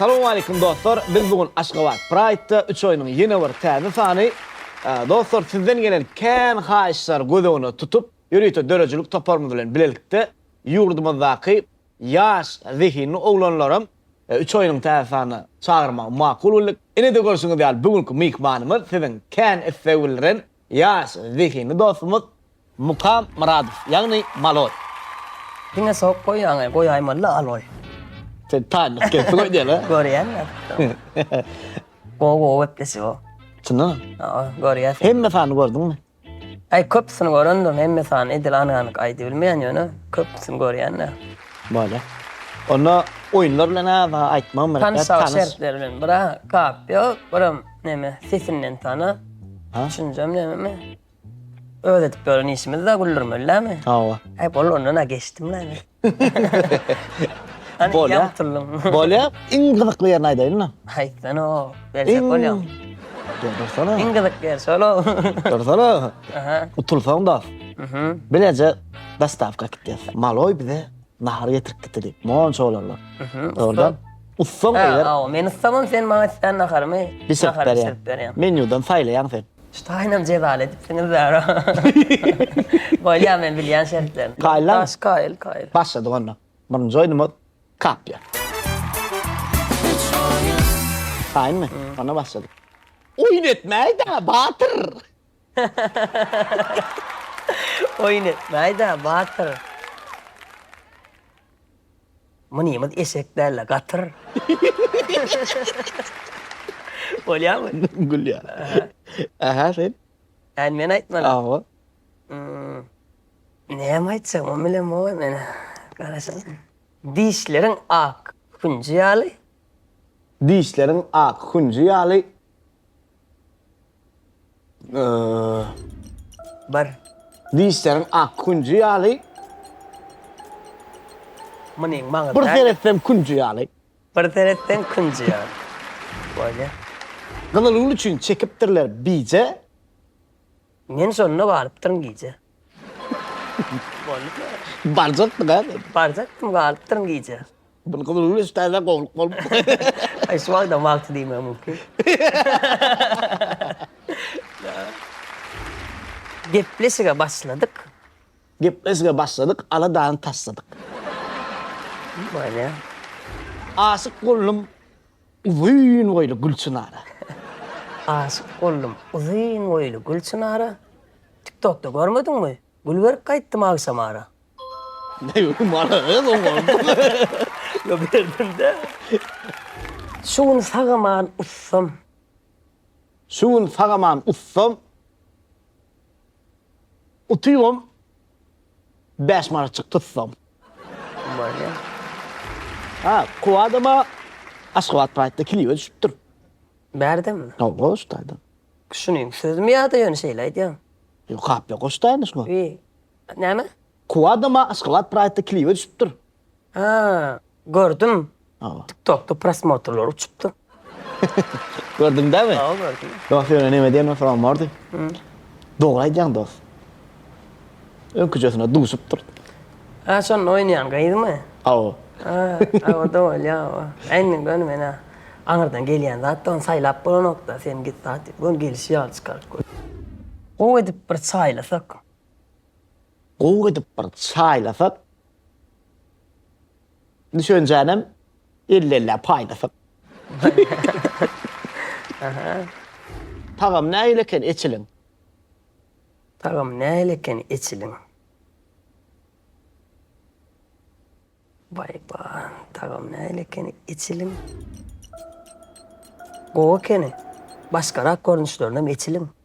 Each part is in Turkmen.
Salowmaleýkim dostlar, biz bu gün Aşgabat Praýdda üç oýnuň ýene bir täze sany. Dostlar, sizden gelen kän haýyşlary göz öňüne tutup, ýörite döredijilik toparymyz bilen bilelikde ýurdumyzdaky Ýaş, zehinli oglanlaram üç aýynyň täze sanyna çagyrmagy makul bildik. Ine-de görşüňiz ýaly bu günki myhmanymyz siziň kän isleg bildiren ýaş, zehinli dostumyz Mukam Myradow, ýagny Maloý. Diňe sowuk goýýaňaý, goýaýmaly-la aloý. Sen taýynlyk gelip goý diýeli. Görýän ýaly. Gowy-gowy gepleşik-ow. Çyndanam. Görýärsiň. Hemme sanyny gördüňmi? Aý köpüsini görendirin hemme sany edil anyk aýdybilmeýän ýöne köpüsini görýänler. Bolýa. Onda oýunlar bilen aza aýtmagyň bir tans. Tans şertleri bilen bira kap ýok, biram neme sesinden tana. Ha? Şunjam nememi? Öz edip ýören işimiz-dä güldürmeli dämi? Hawa. Aý bol ondan-a geçdim-le men. Bolýa. Bolýa. Iň gyzykly ýerini aýdaýyna. Aýtsana. Berjek bolýaň. Dursana. Iň gyzykly ýer şol. Dursana. Aha. Utulsaň da. Mhm. Bileje dostawka gitýäs. Maloý bize nahar getirip gitdi. Monça olarlar. Mhm. Ordan ussaň eger. Aw, men ussamam sen maňa islen naharymy. Bişirip berýän. Menýudan saýlaýaň sen. Ştaýnam jezal edipsiňiz bäri. Bolýa men bilýän şertlerini. Kaýyllaň? Daş kaýyl kaýyl. Başladyk onda. Birinji oýnumyz kapýa. Kaýynmy? Onda başladyk. Oýun etmäýdä batyr. Oýun etmäýdä batyr. Munymyz eşek däl-le, gatyr. Bolýarmy? Gülýär. Aha, sen? Äni men aýtmaly. Awa. Näme aýtjak, muny bilemok-oý men. Garaşaly. Dişleriň ak hünji ýaly. Dişleriň ak hünji ýaly. Bir. Dişleriň ak künji ýaly. Munyň maňyzy. Bir seretseň künji ýaly. Bir seretseň künji ýaly. Bolýa. Gyzyl gül üçin çekipdirler bije. Men şonda barypdyryn gije. Barjakdyk-a. Barjakdym, galypdyryn gije. Buny gyzyl güneş täze gowulyp bolupdyr. Şu wagtam wagty diýmek mümkin. Gepleşige başladyk. Gepleşige başladyk, ala dany taşladyk. Aşyk boldum. Uzyn boýly Gülçynara. Aşyk boldum uzyn boýly Gülçynara, Tiktokda görmediňmi, gül berip gaýtdym agşamara. Näme bu mara gyz oňardymy? Ýok berdim-dä. Şu gün sagaman ussam. Şu gün sagaman ussam. Utybam Bäş manatjyk tutsam. Bolýa. Ha, Kuwadama Aşgabat Pride-da klipe düşüpdir. Bärdemi? Hawa, goşdaýda. Şunuň sözümi ýa-da ýöne şeýle aýdýaň? Ýok, hapla goşdaýyny şuňa. Bi, näme? Kuwadama Aşgabat Pride-da klipe düşüpdir. Ha, gördüm. Hawa. TikTokda prosmotrlar uçupdy. Gördüň dämi? Hawa, gördüm. Dost ýöne neme diýen soragym bardy. Dogry aýdýaň dost. Öňküjesine duşupdyr. Ha, şonda oýnaýan gyzmy? Hawa. Ha, hawa-da bolýar, hawa. Indi göni men-ä aňyrdan gelýän zat-da, ony saýlap bolanok-da, sen git sat diýip, göni gelişi ýaly çykaryp goý. Gowy edip bir çaýlasak. Gowy edip bir çaýlasak. Düşünjänem elli-ellä paýlasy. Tagam nähili eken eçiliň? Tagam nähili eken eçiliň? Baý-ba, tagam nähili eken eçiliň? Gowy ekeni. Başgarak görnüşlerinem eçiliň.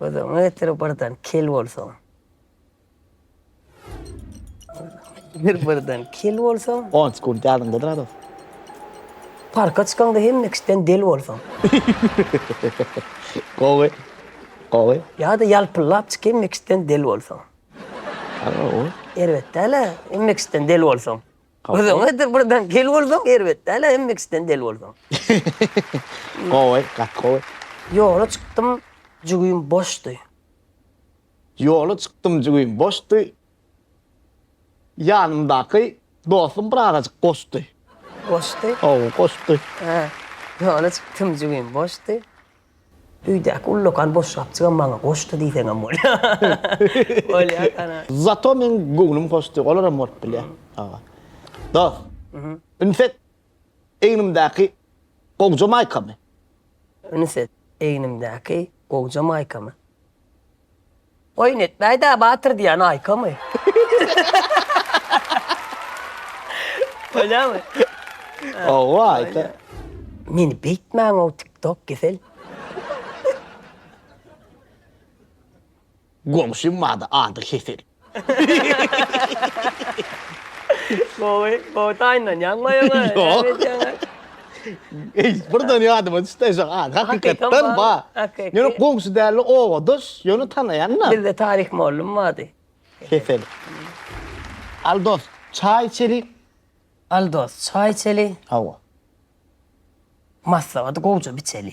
Gözüňi getir birden kel bolsaň. Bir birden kel bolsaň. Onç gün ýadyňda durarys. Parka çykaňda hemme kişiden del bolsaň. Gowy. Gowy. Ýa-da ýalpyllap çyk hemme kişiden del bolsaň. Erbet däl-ä, hemme kişiden del bolsaň. Gyzyň gaýdyp buradan gel bolsaň erbet däl-ä hem mixden del bolsaň. Gowy, gaty gowy. Ýola çykdym, jügim boşdy. Ýola çykdym, jügim boşdy. Ýanymdaky dostum bir azajyk goşdy. Goşdy? Hawa, goşdy. Ýola çykdym, jügim boşdy. Öýdäki ullakan boşgapjygam maňa goşdy diýseňem bolýar. Zato meň göwnüm hoşdy, olaram bolup bilýär. Hawa. Dos, üns et, egnimdäki gowja maýkamy. Üns et, egnimdäki gowja maýkamy. Oýun etmäýdä batyr diýýän aýkamy. Bolýamy? Hawa aýta. Meni beýtmäňow tik tok kesel. Goňşym bardy ady Hesel. Gowy gowy taýynlanýaňmy ýa ýöne näme edýäňä. Eý, birden ýadyma düşdi şu an. Hakykatdan ba. Ýöne goňşy däl, obadaş, ýöne tanaýan-da. Bizde Tarik mollum bardy. Kesel. Al dost, çaý içeli. Al dost, çaý içeli. Hawa. Maslahaty gowja biçeli.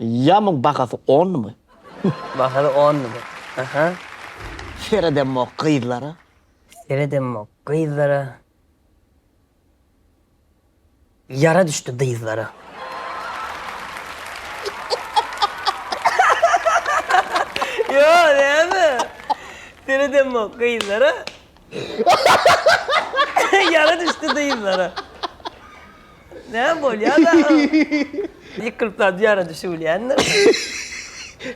Ýamyň bahasy onmy? Bahasy onmy? Aha. Seredemok gyzlara. Seredemok gyzlara. Ýara düşdi dyzlara. Ýa näme? Seredemok gyzlara. Ýara düşdi dyzlary. Näme bolýar dagy? Ýykylyp zat ýara düşübilýändir.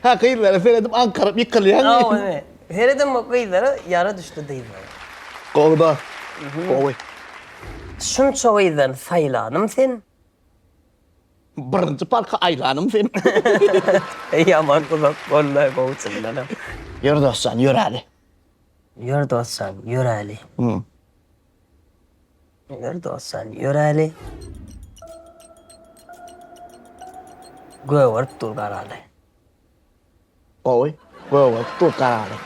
Hä, gyzlara seredip aňkaryp ýykylýaň. Hawa, ine. Seredem gyzlara ýara düşdi dyzlary. Gowuda. Gowy. Şunça gyzdan saýlanym sen. Birinji parka aýlanym sen. Ýaman uzak boldy-aý gowy çyndanam. Ýör dostjan, ýöräli. Ýör dosjan, ýöräli. Ýör dosjan, ýöräli. Gögerip dur garaly. Gowy. Gögerip dur garaly.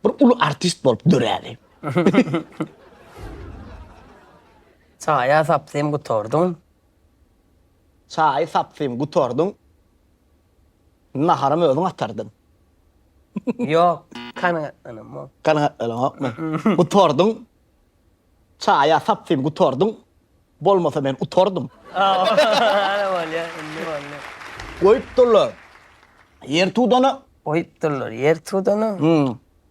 Bir uly artist bolup döräli. Çaýa sapsym gutardyň. Çaýy sapsym gutardyň. Naharam özüň atardyň. Ýok, kanagatlanamok. Kanagatlanamokmy? Gutardyň. Çaýa sapsyn gutardyň. Bolmasa men utardym. Ana bolýa, indi boldy. Goýupdyrlar ýer tudana. Goýupdyrlar ýer tudana.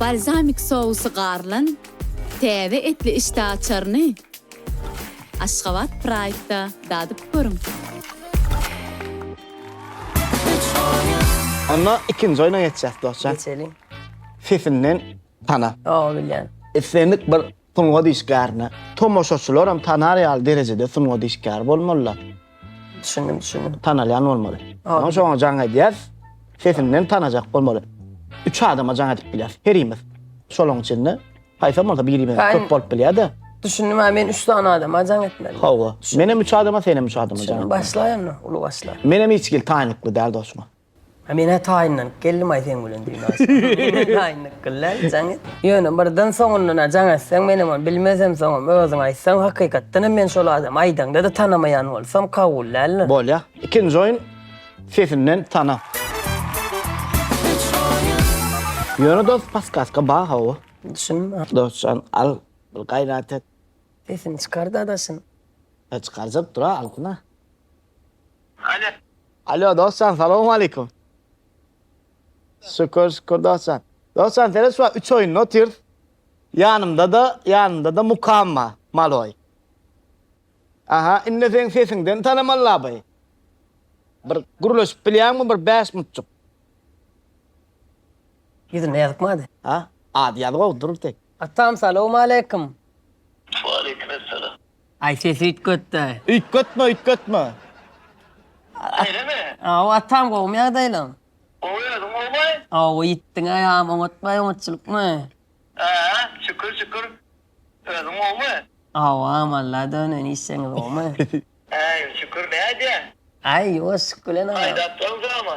Balzamik sousy garylan täze etli işdä açaryny Aşgabat Pride-da dadyp görüň! Onda ikinji oýna geçýäs, dostjan. Geçeliň. Sesinden tana. Ýa bilýän. Islendik bir Sungat işgärine tomaşaçylaram tanar ýaly derejede sungat işgäri bolmalylar. Düşündim, düşündim. Tanalýan bolmaly. Soň şoňa jaň edýäs. Sesinden tanajak bolmaly. Üç adama jaň edip bilýäs herimiz. Şolaň içinde haýsam bolsa birimiz köp bolup bilýär-de. Düşündim, ha men üç sany adama jaň etmeli. Hawa. Menem üç adama, senem üç adama jaň etmeli. Başlaýyn, uly başla. Menem hiç hili taýynlykly däl dostum. Men-ä taýynlanyp geldim-aý seň bilen düýn-aý soň. Taýynlyk kylýa, jaň et. Ýöne birden soňundan-a jaň etseň, menem ony bilmezem, soňam özüň aýtsaň, hakykatdan hem men şol adamy aýdaňda-da tanamaýan bolsam, kabul däldir. Bolýa. Ikinji oýun, sesinden tana. Ýöne dost paskaska bar hawa. Düşündim. Dostjan, al, bir gaýrat et. Sesini çykar-da daşyny. Çykarjak dur-a, alsyn-a. Alo. Alo dostjan salowmalikum. Şükür şükür dostjan. Dostjan seret şu üç oýunda otyrs. Ýanymda da ýanymda da mukam bar. Maloý. Aha indi seň sesiňden tanamal labai. Bir gürleşip bilýäňmi bir bäş minutjyk. Ýüzünde ýazykmady. Ha? Ady ýazyk ol dur tek. Atam salowmalikum. Waleýkim essalam. Aý ses üýtgetde. Üýtgetme üýtgetme. Beýlemi? Aw atam gowmy ýagdaýlaň? Gowy özüň gowmy? Aw ýitdiň agam oňatmaý oňatçylykmy? Ää şükür şükür. Özüň gowmy? Awam Alla dönen işjeňiz gowmy? Äý şükür nädýä? Aý ýuwaşjyk bilen agam. Aýdapsyň drama.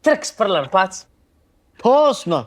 Trks pyrlan paç. Tosno.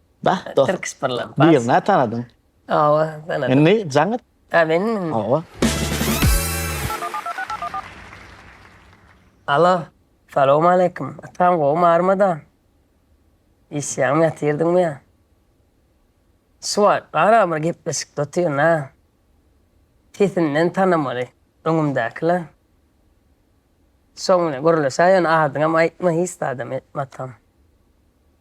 Bah, Türk Spirlan. Bu ýyl nä tanadyň? Awa, tanadym. Indi jaň et. Ha, men? Awa. Alo, salam aleýkum. Atam gowy marmada? Işýäňmi, ýatyrdyňmy ýa? Suwat, gara bir gepleşikde otyryn ha. Sesinden tanamaly öňümdäkiler. Soň ine gürleşä ýöne adyňam aýtma hiç zadam etme atam.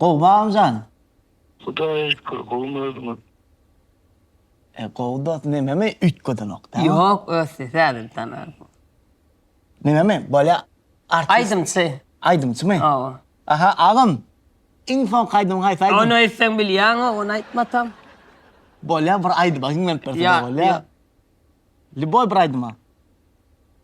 Gowy bagym jan. Hudaýa şükür gowmy özüňiz. E gowy dos nememi üýtgedenok dämi. Ýok ösdi täzeden ösdi bu. Nememi bolýa artist. Aýdymçy. Aýdymçymy. Hawa. Aha agam iň soňky aýdymyň haýsy aýdym. Ony öýtseň bilýäňok ony aýtma tam. Bolýa bir aýdyma hiňlenip berseň bolýa. Lýuboý bir aýdyma.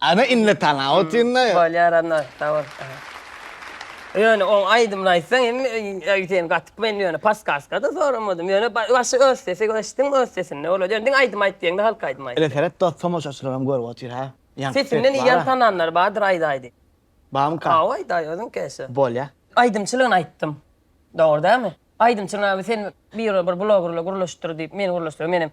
Ana indi tanaw utynda. Bolýar anna sag bol. Ýöne oň aýdymyny aýtsaň hemme öýdýän gatyk men ýöne paskaskada soramadym ýöne başy öz sesi eşitdiňmi öz sesinde bolady ýöne diňe aýdym aýt diýeňde halk aýdymy aýt. Ele seret dos tomaşaçylaram görüp otyr ha. Sesinden iýen tananlar bardyr aýdaý diý. Barmyka? Hawa aýdaý özüň keşe. Bolýa. Aýdymçylygyny aýtdym. Dogry dälmi? Aýdymçylygyny sen bir blogerle gürleşdir diýip meni gürleşdirýäň menem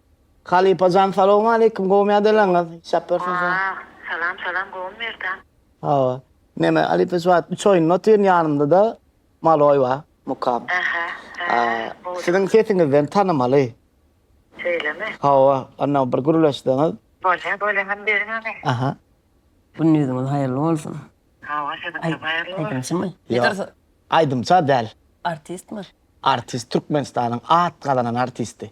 Halypajan salowmaleýkim gowy mydelaňyz işap bersin size. Salam salam salam gowymy Merdan. Hawa neme halypa şu wagt üç oýunda otyryn ýanymdada maloý bar mukam. Aha ha gowy. Siziň sesiňizden tanymaly. Şeýlemi. Hawa anna bir gürleşseňiz. Bolýa bolýa hany beriň hany. Aha. Günde ýüzüňiz haýyrly bolsun. Hawa siziňem haýyrly bolsun. Aýdymçymy? Ýok aýdymça däl. Artistmi? Artist Türkmenistanyň at gazanan artisti.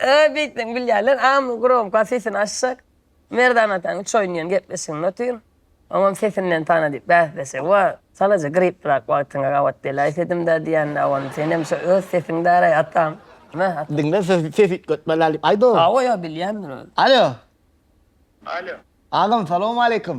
Öö beýtseň bilýärler amy gromka sesini açjak Merdan ataň üç oýun diýen gepleşigini otyryn oňam sesinden tana diýip bäsleşigi bar çalaja gripdirak wagtyňa gabat beläýsedimdä diýende awan senem şo öz sesiňdäraý atam Meh ata. Diňle sesi ses üýtgetmeläý diýip aýdo. Hawa ýa bilýändir özi. Alo. Alo. Agam salowmaleýkim.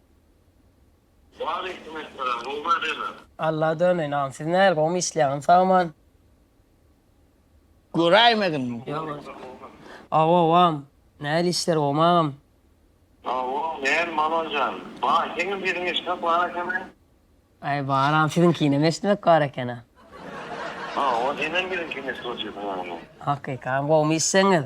Waleýkim essalam Romy adena. Alla döneýin siz näl gowymy işleýäňiz sagman. Göräýmediňmi? Ýok ýok. Aw awam näl işler gowymy agam. Awo näl Malojan baý seňem sesiňi eşitmek bar ekeni. Aý bar agam siziňkinem eşitmek bar ekeni. Awo senem biziňkini eşidip otyr sanaňda. Hakyka agam gowymy işleňiz.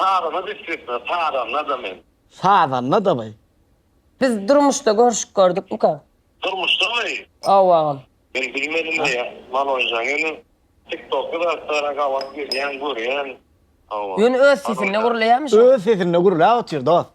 Sazanda düşjekmi? Sazanda-da men. Sazanda-da by. Biz durmuşda görüşüp gördükmika? Durmuşdamy? Hawa agam. Men bilmedim-le ýa, Malonjan. Ýöne TikTok-da zatlara gabat gelýän, görýän. Hawa. Ýöne öz sesinde gürleýärmiş o. Öz sesinde gürläp otyr dost.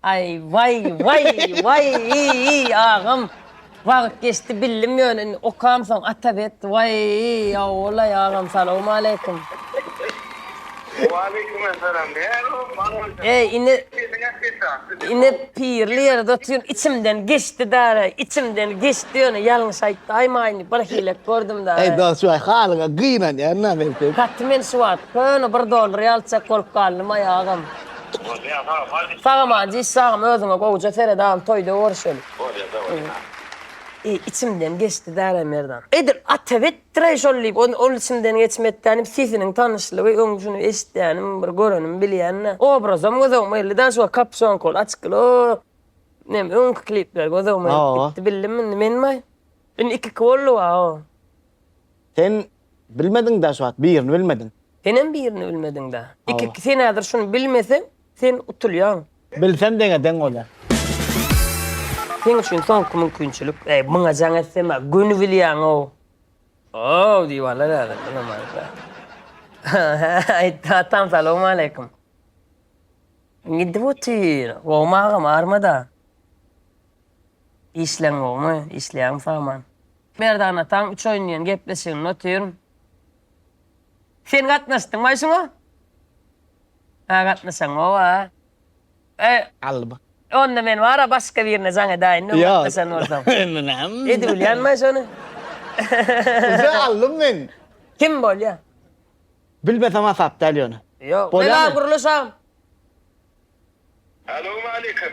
Aý waý waý waý iýýý agam wagyt geçdi bildim ýöne indi okam soň ata bet waý ýawollaý agam salowmaleýkim. Waleýkim esalam näme boldy eý indi indi pirli ýerde otyryn içimden geçdi dara içimden geçdi ýöne ýalňyş aýtdy aýmaýyn bir hile gördüm dara. Eý dost waý halyňa gynanýan na men seň. Gaty men şu wagt köne bir dollar ýalyjak bolup galdym aý agam. Sagam a diş sagam özüňe gowja seret al toýda görüşeli. Bolýa dowamyna. Eý içimden geçdi däre Merdan. Edil atyp etdiräý şol diýip ol içimden geçmekdäni diýip sesiniň tanyşlygy öň şuny eşitýänim bir görenim bilýände obrazam gözogma geldi däl şu wagt kapşonka ol açykly o nem öňki klipler gözogma gelip gitdi bildim indi menmaý indi ikiki boldy waoo. Sen bilmediň-dä şu wagt, birini bilmediň. Senem birini bilmediň-dä. Iki, sen häzir şuny bilmeseň, sen utulýaň. Bilsem deňe deň bolýar. Seň üçin soňky mümkinçilik. Äý, muňa jaň etsem-ä, göni bilýäň-ow. Ow diýip alar häzir, bilemokda. Aýtdy, atam salowmaleýkim. Gidip otyr. Gowumy agam, army-da? Işleň gowumy? Işleýäňmi Sawman? Merdan ataň üç oýun diýen gepleşiginde otyryn. Sen gatnaşdyňbaý şuňa? Hä gatnaşan gowa. Eý, Alb. onda men bar-a başga birine jaň edäýin öň Ýok. gatnaşan bolsam. Indi näme? Edibilýänbaý şony? Size aldym men. Kim bolýa? Bilmesem hasap däl ýöne. Ýok. Bolýamy? Megagurulyş agam. Salowmaleýkim.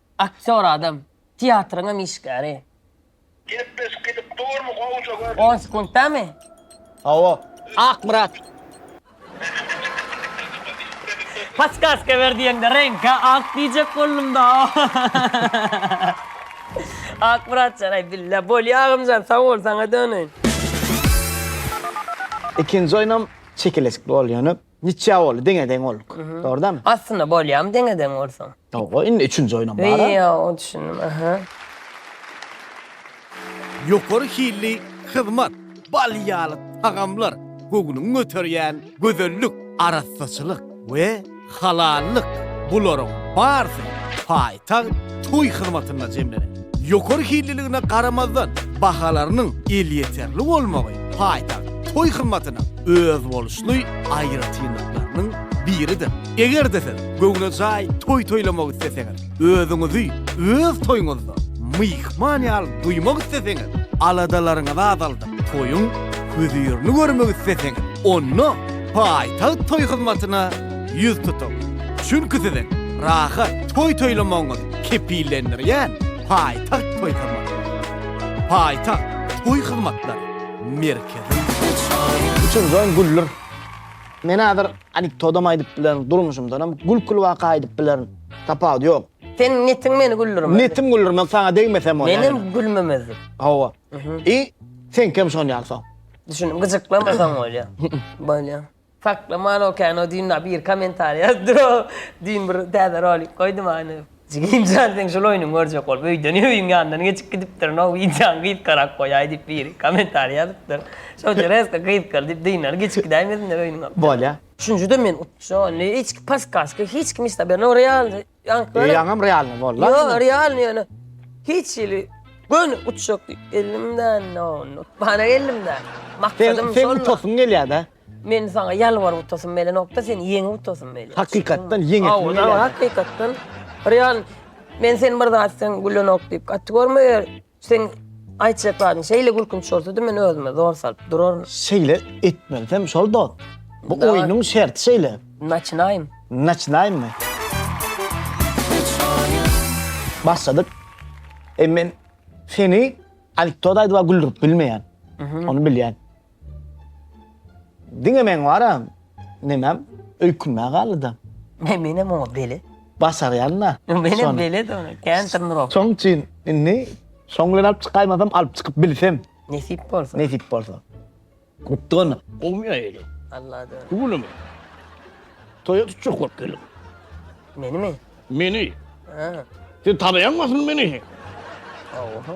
Aktýor adam. Teatryňam işgäri. Gepleşik gidip durmy gowja görşüň. On sekuntdamy? Hawa. Akmyrat. Paskaska ber diýeňde reňka ak diýjek boldumda. Akmyratjan aý billa bolýa agamjan sag bol saňa döneýin. Ikinji oýnam çekeleşikli boldy ýöne Niçe boldy deňe deň olduk. Dordamy? Aslynda bolýamy deňe deň bolsaň. Ýoga indi üçünji oýnam bara. Ýa o düşündim aha. Ýokary hilli hyzmat, bal ýaly tagamlar, göwnüňi göterýän gözellik, arassaçylyk we halallyk bularyň barsy paý. Tag toý hyzmatyna jemlenen. Ýokary hilliligine garamazdan, bahalarynyň elýeterli bolmagy paýtagt toý hyzmatynyň özboluşly aýratynlyklarynyň biridir. Eger-de siz göwnejaý toý toýlamak isleseňiz, özüňizi öz toýuňyzda myhman ýaly duýmak isleseňiz, aladalaryňyzy azaldyp, toýuň hözirini görmek isleseňiz, onda paýtagt toý hyzmatyna ýüz tutuň. Çünki siziň rahat toý toýlamagyňyz kepillendirýän paýtagt toý hyzmatlary. Paýtagt toý hyzmatlary merkezi. Içim jan güller. Men häzir anekdodam aýdyp bilerin, durmuşymdanam gülküli waka aýdyp bilerin. Tapawudy ýok. Seniň netiň meni güldürmezdi. Netim güldürmez, saňa degmesem bolýar. Menem gülmemezdim. Hawa. I, seňkem şonýaly soň. Düşündim, gyjyklamasaň bolýar. Bolýar. Saklaman okean o düýn na bir komentar ýazdy o düýn bir täze rolik goýdum any. Jigimjan seň şul oýnuňy görjek bolup öýden öýüň ýanyndan geçip gidipdirin o wideony gysgarak goýaý diýip biri komentar ýazypdyr. Şonça resko gysgaly diýip dynany geçip gidäýmesinler öýüňe. Bolýa. Üçünjide men utjam. Hiç kim paskaska hiç kim istaberno realny. Ýaňky. Ýaňam realny boldy. Ýok, realny ýöne. Hiç hili göni uçjak diýip elimden nonut. Bana elimden. Maksadym şol. Sen utasyn gelýär-de. Men saňa ýalwaryp utasym melenokda, sen ýeňip utasym mele. Hakykatdan ýeňip. Hawa, hakykatdan. Real. Men sen bir zatdan gülenok diýip gaty görmeýär. Seň aýtjak zadyň şeýle gülkünç bolsady men özüme zor salyp duraryn. Şeýle etmelisem şol dos. Bu Dawa. oýnuň şerti şeýle. Naçynaýym. Naçynaýmy? Başladyk. E men seni anekdot aýdyp-a güldürip bilmeýän. Ony bilýän. Diňe meň bar-a, nemäm, öýkünmä galdy-da. He, menem oňa bele. Başarýan-da. Menem bele-de ony, kän tyrnyrok. Şoň üçin indi şoň bilen alyp çykaýmasam, alyp çykyp bilsem. Nesip bolsa. Nesip bolsa. Gutdy onda. Gowy aýaly. Allada. Bu günüm. Toýa tutjak bolup geldim. Menimi? Meni. Sen tanaýaňmy asyl meni? Oho.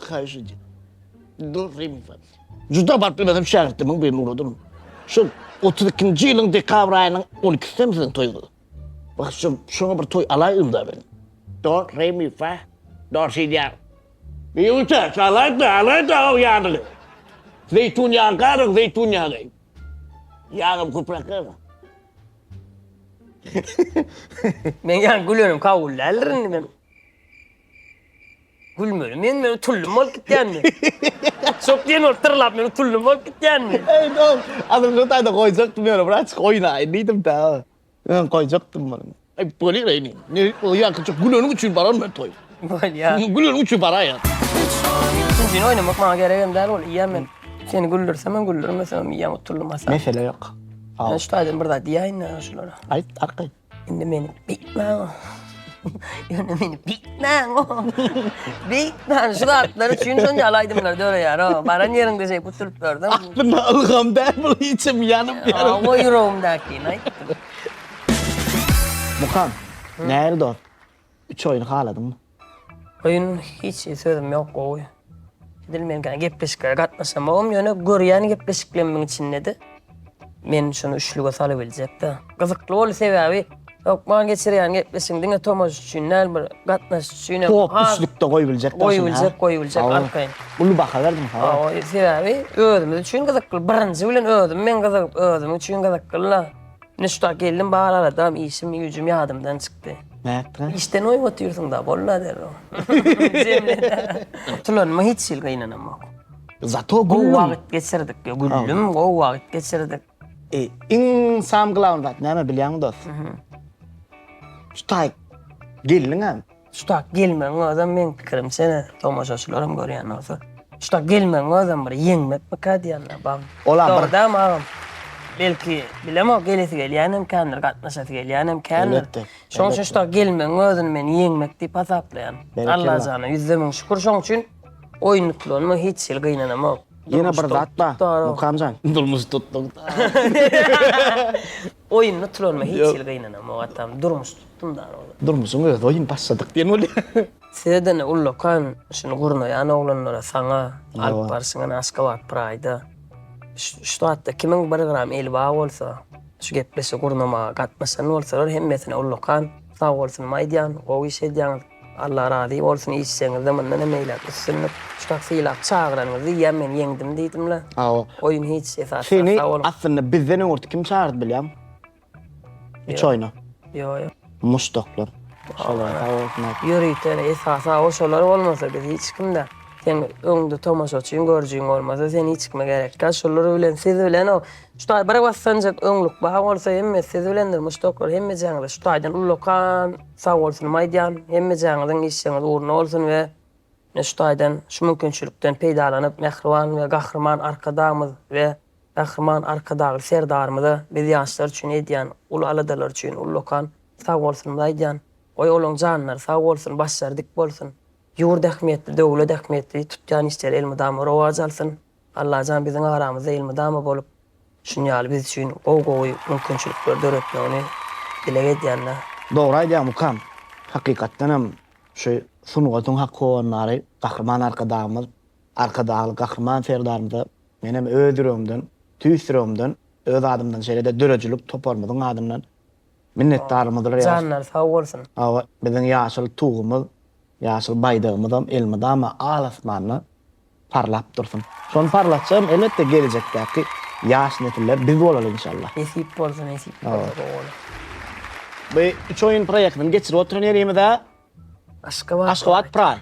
Haýyş edýän. Durrym sat. Juda bagt bilemem şägirtimiň birini ugradym. Şol otuz ikinji ýylyň dekabr aýynyň on ikisindemi siziň toýuňyz? Wah, şo, şoňa bir toý alaýdym-da men. Do, re, mi, fa, do, si, diýýär. Biýuwte, çalaýda, alaýda o ýagyny. Zeýtun ýagy garyň, zeýtun ýagy. Ýagam köpräk garyň. Men ýaňky gülenim kabul däldir indi men. Gülmeli men men utuldym bolup gitýänmi? Uçak diýen ol tyrlap men utuldym bolup gitýänmi? Eý dol, azynja taýda goýjakdym ýöne bir açyk oýnaýyn diýdim-dä. Ýöne goýjakdym muny. Eý bolýar eý indi. Ne o ýaňkyja güleniň üçin baran men toý. Bolýar. Güleniň üçin baraýan. Ikinjini oýnamak maňa geregem däl ol iýýän men. Seni güldürsem hem güldürmesem hem iýýän utuldym Hasan. Mesele ýok. Sag bol. Men şu taýdan bir zat diýäýin-de şulara. Aýt arkaýyn. Indi meni beýtmäň-o. Ýöne meni beýtmäň-o. Beýtmäň, şu zatlar üçin şonça ýaly aýdymlar döreýär-o. Baran ýeriňde şeýdip utulyp dur-da. Aslynda ylgam däl bu, içim ýanyp ýör. Awa, ýüregimdäkini aýtdym. Mukam, nähili dost? Üç oýun haladyňmy? Oýun hiç sözüm ýok gowy. Edil men kän gepleşiklere gatnaşamogum ýöne görýän gepleşiklemmiň içindedi. Men şuny üçlüge salybiljekda. Gyzykly boldy sebäbi hökman geçirýän gepleşigiň diňe tomaş üçin däl bir gatnaşyjy üçinem Top üçlükde goýubiljek daşyna. Goýubiljek goýubiljek arkaýyn. Uly baha berdiň sag bol. Sebäbi özümiz üçin gyzykly birinji bilen özüm men gyzygyp özüm üçin gyzyklyla. Nuşta geldim bar aradam işim güýjüm ýadymdan çykdy. Nätdiňä? Işden oýup otyrsyňda bolla derrew. Jemlede. Tulanyma hiç hili gynanamok. Zato Gowy gülüm. wagt geçirdik ýa gülüm gowy wagt geçirdik. E, iň sam glawny zat näme bilýäňmi dost? Şu taýy gelniňem. Tutak gelmegiň özem meň pikirimçe tomaşaçylaram görýän bolsa tutak gelmegiň özem bir ýeňmekmika diýýänler bar. Olam bir. Dogrydanam agam. Belki bilemok gelesi gelýänem kändir gatnaşasy gelýänem kändir. Elbetde. Şoň üçin tutak gelmegiň özüni men ýeňmek diýip hasaplaýan. Berekella. Allajana ýüzde müň şükür şoň üçin oýun utulanma hiç hili gynanamok. Ýene bir zat bar Mukamjan. Durmuş tutduk. Oýuny uturanma hiç hili gynanamok atam durmuş tutdum dana ola. Durmuşyň özi oýun başladyk diýen bolýa. Sizeden ullakan şuny gurnaýan oglanlara saňa alyp barşyňa ene Aşgabat Praýda şu zatda kimiň bir gram eli bar bolsa şu gepleşigi gurnamaga gatnaşan bolsalar hemmesine ullakan sagbolsunymy aýdýan gowy iş edýäňiz. Allah razy bolsun işiňizde mundan hem eýläk üstünlik. Çak sylap çagyranyňyzy diýýän men ýeňdim diýdimle. Hawa. Oýun hiç esasy Seni sag boluň. aslynda bizden öňürti kim çagyrdy bilýäň? Üç oýna. Ýo ýo. Muşdaklar. Şolar sag bolsun aýt. Ýörite esasy hawa şolar bolmasa biz hiç kimde. Seň öňde tomaşaçyň görjüň bolmasa sen hiç kime gerek däl şolar bilen siz bilen o şu taý bir bassanjak öňlük bar bolsa hemmesi siz bilendir muşdaklar hemme jaňyza şu taýdan ullakan Sagbolsunym aýdýan, hemmejäňiziň işiňiz ugruna bolsun we ine şu taýdan şu mümkinçilikden peýdalanyp mähriban we gahryman Arkadagymyz we gahryman Arkadagly Serdarymyza biz ýaşlar üçin edýän uly aladalary üçin ullakan sagbolsunymyzy aýdýan. Goý olaň janlary sag bolsun, başlary dik bolsun. Ýurt ähmiýetli, döwlet ähmiýetli, tutýan işleri elmydama rowaç alsyn. Allajan biziň aramyzda elmydama bolup şunýaly biz üçin gowy gowy mümkinçilikleri döretmegini dileg edýänler. Dogry aýdýaň mukam hakykatdanam şu sungatyň hak howandary Gahryman Arkadagymyz Arkadagly Gahryman Serdarymyza menem öz ýüregimden tüýs ýüregimden öz adymdan şeýlede döredijilik toparymyzyň adyndan minnetdarlygymyzy Janlary sag bolsun. Hawa biziň ýaşyl tugumyz ýaşyl baýdagymyzam elmydama al asmanda. parlap dursun. Şony parlatjagym elbetde gelejekdäki ýaş nesiller biz bolaly inşallah. Nesip bolsa nesip bolsa gowy bolar. Bu üç oýun proýektini geçirip oturan ýerimizä Aşgabat Aşgabat Praý.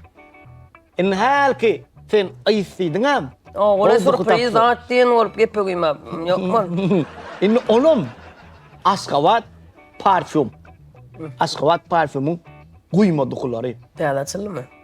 Indi hälki sen yz diýdiňäm. Ogula surpriz zat diýen bolup gepe guýmap ýokmy? Indi onam Aşgabat parfýum. Aşgabat parfýumyň guýma dukulary. Täze açyldymy?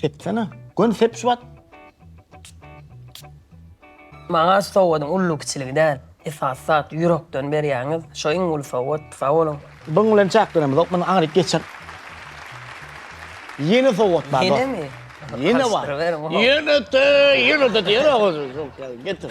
Sepsene. Göni sep şu wagt. Maňa sowgadyň ully-kiçiligi däl, esasy zat ýürekden berýäňiz, şo iň uly sowgat, sag boluň. Bunuň bilen çäklenemizok, muny aňryk geçer. Ýene sowgat bar. Ýenemi? Ýene bar. Ýene-de, ýene-de diýer oguz. Getir.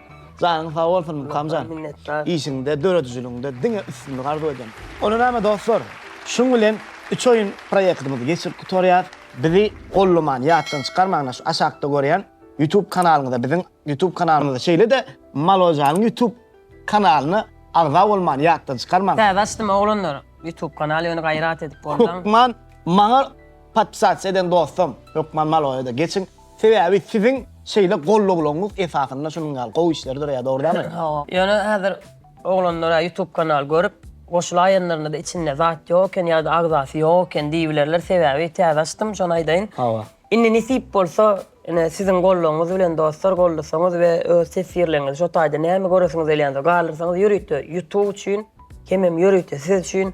Janyň sag bolsun Mukamjan. Işiňde, döredijiligiňde diňe üstünlik arzuw edýän. Onda näme dostlar, şuň bilen üç oýun proýektimizi geçirip gutarýas. Bizi gollamany ýatdan çykarmaň na şu aşakda görýän YouTube kanalyňyza biziň YouTube kanalymyza şeýle-de Maložanyň YouTube kanalyna agza bolmany ýatdan çykarmaň. Täze açdym oglanlar YouTube kanaly ýöne gaýrat edip bolmaň. Hökman maňa podpisasiýa eden dostam Hökman Maloža da geçiň Sebäbi siziň şeýle gollaglaňyz esasynda şunuň ýaly gowy işleri döreýär, dogry dälmi? Hawa. Ýöne häzir oglanlara ýutub kanal görüp, goşulaýanlarynda-da içinde zat ýok eken ýa-da agzasy ýok eken diýibilerler, sebäbi täze açdym, şony aýdaýyn. Hawa. Indi nesip bolsa, ine, siziň gollagyňyz bilen dostlar gollasaňyz we öz teswirleriňizi şo taýda näme göresiňiz gelýändir, galdyrsaňyz ýörite ýutub üçin, hemem ýörite siz üçin,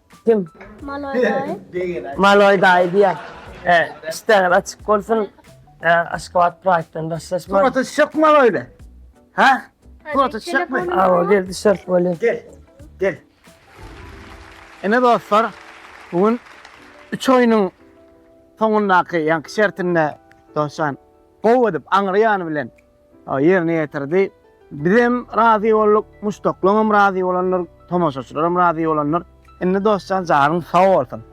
Kim? Maloy daýy. Maloy daýy diýä. He, işdäňiz açyk bolsun. He, Aşgabat Pride-den daşlaşma. Surata düşek mi öyle? Ha? Surata düşek mi? Awa, gel düşerik bolýa. Gel. Gel. Ene dostlar, bugün 3 oýnuň soňundaky ýaňky şertinde Dosjan gowy edip aňry ýany bilen Ýerine ýetirdi. Bizem razy bolduk, muşdaklaňam razy bolandyr, tomaşaçylaram razy bolandyr. Indi Dostjan janyň sag bolsun.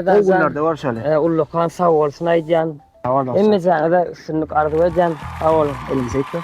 Gowy günlerde görşeli. Ullakan sag bolsun aýdýan. Hemmejaňyza üstünlik arzuw edýän. Sag boluň. Elimize ekmek.